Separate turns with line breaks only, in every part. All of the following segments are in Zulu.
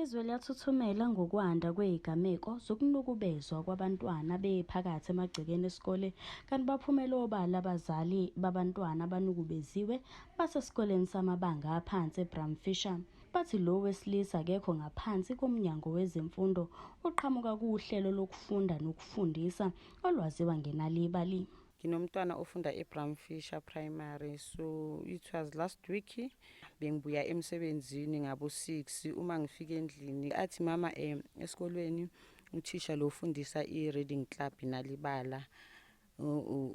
Izwe liyathuthumela ngokwanda kwezigameko zokunukubezwa kwabantwana bephakathi emagcekeni esikole kanti baphumele obala abazali babantwana abanukubeziwe basesikoleni samabanga aphansi eBramfisher. Bathi lo wesilisa akekho ngaphansi koMnyango wezeMfundo uqhamuka kuhlelo lokufunda nokufundisa olwaziwa ngenalibali. Nginomntwana ofunda
eBramfisher Primary so it was last week bengibuya emsebenzini ngabo 6 uma ngifika endlini athi mama eh esikolweni uthisha lo ufundisa i-reading club nalibala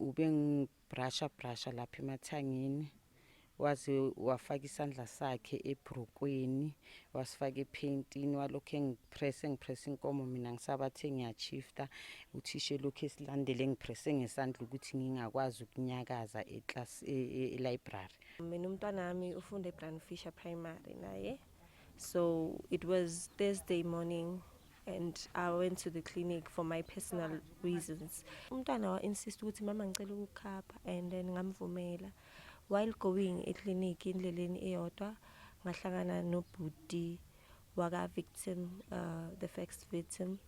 ubengibrasha brasha lapha emathangeni waze wafaka isandla sakhe ebhrukweni wasifaka ephentini walokhu engipresse engipresse inkomo mina ngisabathe ngiyachifta uthisha elokhu esilandele engipresse ngesandla ukuthi ngingakwazi ukunyakaza e, e, e-library mina umntwana
wami ufunda ebrand fisher primary naye so it was thursday morning and i went to the clinic for my personal reasons umntwana wa-insist ukuthi mama ngicela ukukhapha and then ngamvumela While going eclinic indleleni iyodwa ngahlangana nobhuti waka victim uh, the first victim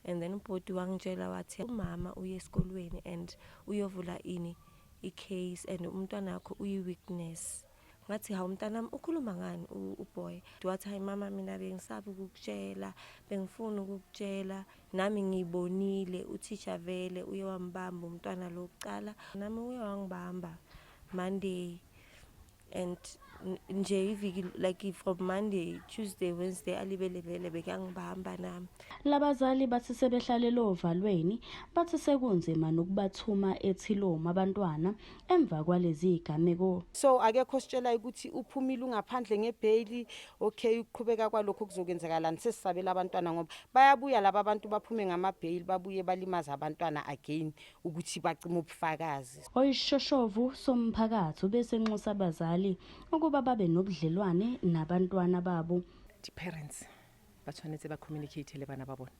and then ubhuti wangitshela wathi umama uye esikolweni and uyovula ini i-case and umntwana wakho uyi-weakness ngathi hawu mntanami ukhuluma ngani uboy wathi hayi mama mina bengisabi ukukutshela bengifuna ukukutshela Nami ngibonile uthisha vele uye wambamba umntwana lo kuqala. Nami uye wangibamba Monday and nje iviki like from Monday, Tuesday, Wednesday alibele vele bekangibamba nami. Labazali bathi
sebehlalele ovalweni bathi sekunzima nokubathuma ethiloma abantwana emva kwalezi zigameko. So akekho
ositshelayo ukuthi uphumile ungaphandle ngebheyili okay ukuqhubeka kwalokho kuzokwenzakalani sesisabela abantwana ngoba bayabuya laba abantu baphume ngamabheyili babuye balimaza abantwana again ukuthi bacima ubufakazi oyishoshovu
somphakathi ubesenxusa abazali ukuba babe nobudlelwane nabantwana babo the parents
ba tshwanetse ba communicate le bana ba bona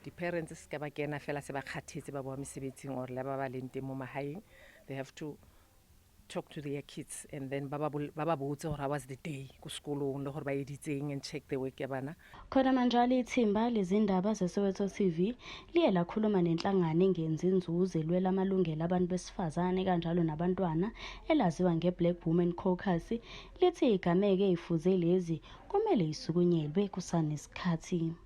the parents se ka ba kena fela se ba kgathetse ba boa mesebetsing or le ba ba leng teng mo magaeng they have to talk to their kids and then ba ba botse gore was the day ko sekolong le gore ba editseng and check the work ya bana khona manjalo
ithimba lezindaba zesoweto tv liye lakhuluma nenhlangano engenzi inzuzo elwela amalungelo abantu besifazane kanjalo nabantwana elaziwa nge-black women caucus lithi igameke ifuze lezi kumele isukunyelwe kusanesikhathi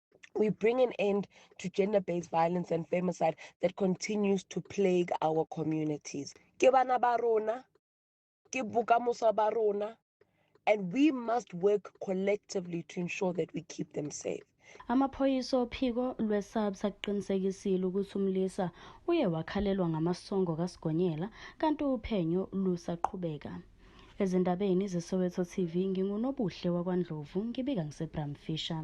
we bring an end to gender based violence and femicide that continues to plague our communities. Ke bana ba rona, ke bokamoso ba rona, and we must work collectively to ensure that we keep them safe. Amaphoyisa
ophiko lweSABS akuqinisekisile ukuthi umlisa uye wakhalelwa ngamasongo kaSigonyela kanti uphenyo lusaqhubeka. Ezindabeni zeSoweto TV nginguNobuhle wakwaNdlovu ngibika ngiseBramfisher.